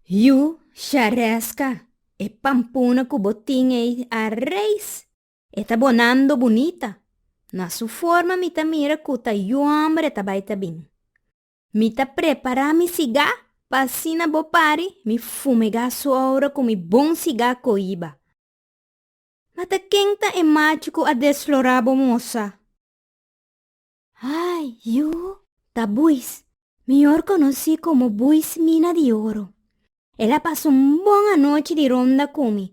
Yu shareska e pampuna ku bo tin ei a reis, e ta bonando bunita. Na su forma mi ta mira ku ta yu hombre ta bai ta bin. Mi ta prepará mi sigá pa asina bo pari mi fumegá su ora ku mi bon sigá koiba. Mata ken ta e macho ku a desflorá bo mosa? Ay, yu ta buis, mihor konosí komo buis mina di oro. El a pasa un bon anochi di ronda ku mi,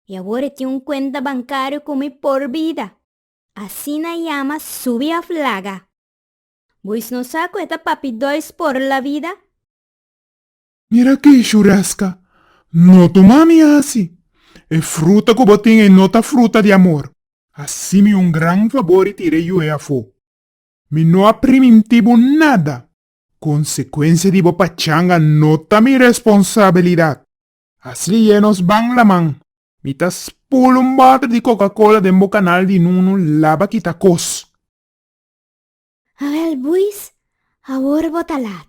i awor e tin un kuenta bankario ku mi por bida. Asina e yama subi òf laga. Buis no sa ku e ta papi dòis por labida? Mira ki Shureska, no tuma mi hasi. E fruta ku bo tin ei no ta fruta di amor. Hasi mi un gran fabor i tira e yu'e afó. Mi no a primintí bo nada. Konsekuensia di bo pachanga no ta mi responsabilidat. Asliye nos ban laman. Mi ta spul un bòter di kokakola den bo kanal di nunu laba kita kos. Awèl buis, awor bo ta lat.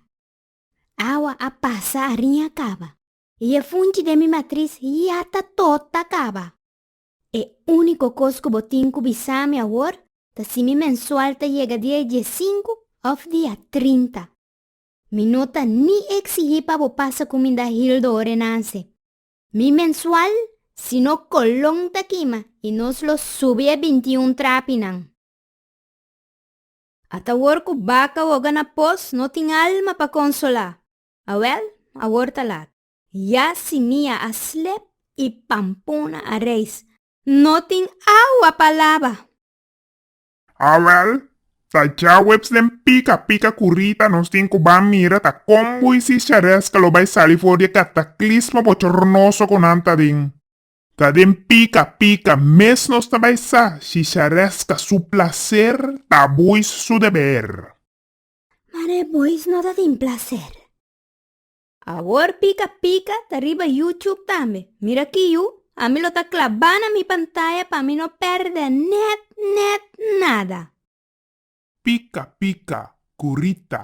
Awa a pasa ariña kaba. I e funchi den mi matris yata tot ta kaba. E úniko kos ku bo tin ku bisa mi awor ta si mi mensual ta yega dia diesinku òf dia trinta. Mi no ta ni eksigí pa bo pasa ku mi da Hildo orenanse. Mi mensual si no kolon ta kima i nos lo subi e bintiun trapinan. Ata awor ku baka woga na pos no tin alma pa konsolá. Awèl, awor ta lat. Ya si mi a a slep i pampuna a reis, no tin awa pa laba. Awèl, ta djaweps den pika pika ku Rita nos tin ku ban mira ta kon Moisis Charesca lo bai sali for di e kataklismo bochornoso ku nan ta den. Ta den pika pika mes nos ta bai sa, Shisharesca su placer ta boys su deber. Mar e boys no ta tin placer. Awor pika pika ta riba YouTube tambe. Mira aki yu, ami lo ta clabá na mi pantaya pa mi no perde net net nada. Pika pika cu Rita.